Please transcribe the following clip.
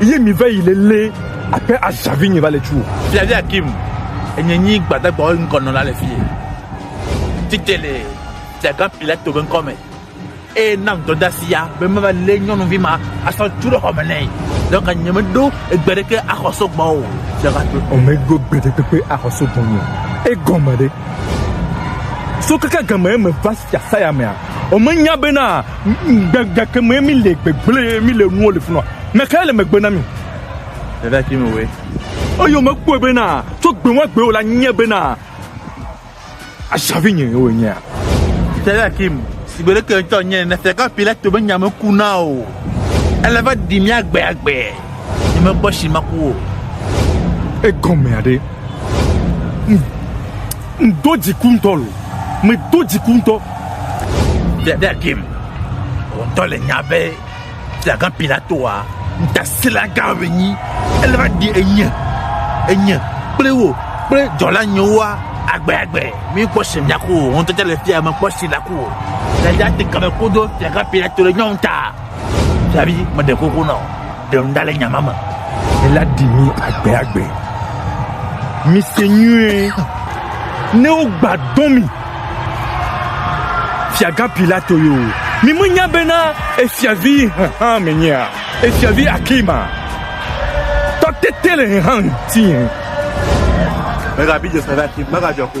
Ye mi va yi lele ape azavi nye va le tu. Fia via Kim, enye nyi gbadagba wo ŋkɔ nɔ la le fie. Tite le tiaga pila to be ŋkɔ me. E na ŋdɔ da sia be me va le nyɔnu vi ma asɔ tu ɖe xɔ me nɛ. Dɔ ka nye me ɖo egbe ɖe ke axɔ so gbɔ o. Dɔ ka to. O me ɖo egbe ɖe ke pe axɔ so gbɔ nye. E gɔ me ɖe. So kaka game me va sia saya mea, o me nya be na. Gbegake me mi le gbegble mi le nuwo le funɔ. Me kae le megbe na mi? Dada ki me we. Oyo me kpɔe bena tso gbewa gbewo la nye bena azavi nye wo nye. Dada ki me si gbele ke ntɔ nye ne se ka pile to be nya me ku na o. Ele va di mi agbe agbe. Nye me gbɔ shi ma ku o. Egɔme ade. Ŋdo dziku ŋutɔ lo. Medo dziku ŋutɔ. Ɖe ɖe ɖem. Ŋdɔ le nya be fiagã Pilatoa ŋutasẽlagã wònyi. Ele va ɖi enye, enye kple wò kple dzɔla nyewoa agbe agbe. Míkpɔ si mìaku o. Ŋutete le fiae mekpɔ si nàku o. Ɖe ɖe ate ŋu ame koɖo fiagã Pilato le nyɔnu ta. Davi meɖe koko na o ɖe nu ɖa le nyama me. Ela ɖi mi agbe agbe. Mi se nyuie ne wogba dɔ mi. Fiagã Pilato yo. Mi menya bena efiavi hã menyea. Efiavi Akima. Tɔtete le hã ŋuti. Mega bi Joseph Akim, mega jɔ ko.